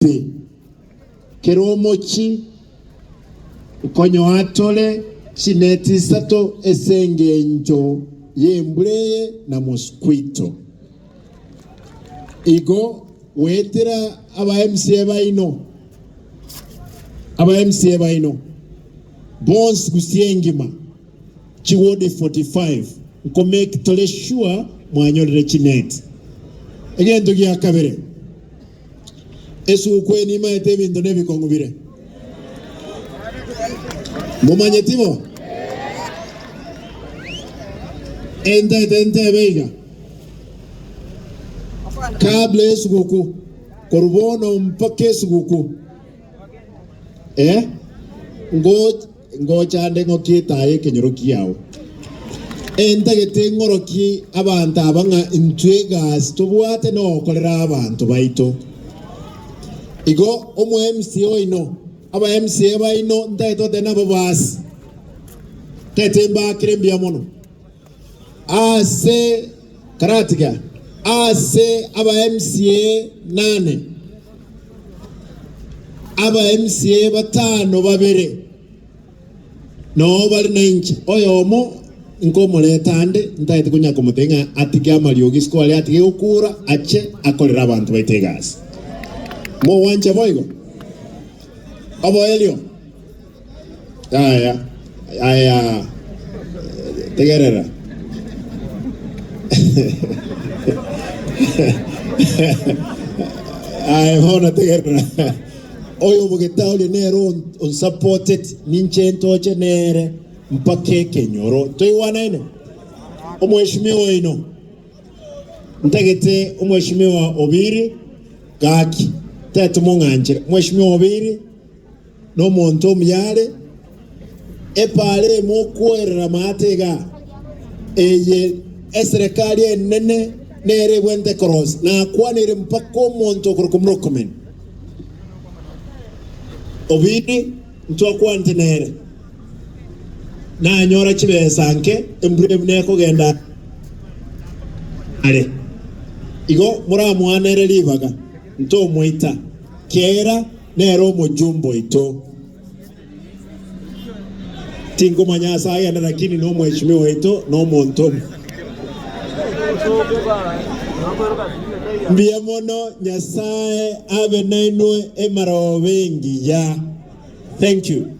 Ase kera omochi nkonyoa tore chineti isato ase engencho y'embura eye na mosquito. Igo goetera aba MCA baino aba MCA baino bonsi Gusii engima chiwodi 45 nko make tore sure mwanyorire chineti. Egento gia kabere Esuku eye nimaete ebinto na ebikong'u bire. Momanyeti bo? Entete ntebe iga, kabla esuguku, korwa bono mpaka esuguku. Eh? Ngo Ngocha nde ng'okie etaa y'ekenyoro kiao, entagete ng'orokie abanto aba ng'a intwe egasi tobwate nogokorera abanto baito. Igo omoMCA oino, abaMCA baino ntagete goteba nabo baase, ntagete mbaakere mbuya mono. Ase karatiga ase aba MCA nane, aba MCA batano babere noo bare nainche, oyomo nkomoreta ande ntaete konya komotebia ng'a atige amariogi isiko aria atige gokura ache akorere abanto baito egasi. Mogwancha boigo? Oboerio. Yaya, yaya, tegerera. Aye bono tegerera. Oyo omogeta oria nere on- onsupported ninche ntoche nere mpaka ekenyoro. Toigwanaine? Omweshimiwa oino. Ntagete omweshimiwa Obiri gaki. Tetomong'anchera. Mweshimiwa Obiri Nomonto omuyaare epaara emo okwoerera amaate iga, eye eserekari enene nere ebwente korosia, nakwaneire mpaka omonto okorokwa Murkomen. Obidi ntwakwanete nere, nanyora chibesa nke embura ebu nekogenda are. Igo moramoanere ribaga, ntomoita, kera Nere omochumba oito. Tinkomanya ase agenda rakini nomweshimiwa oito na omonto omo. Mbuya mono Nyasaye abe nainwe emarooba engiya. Thank you.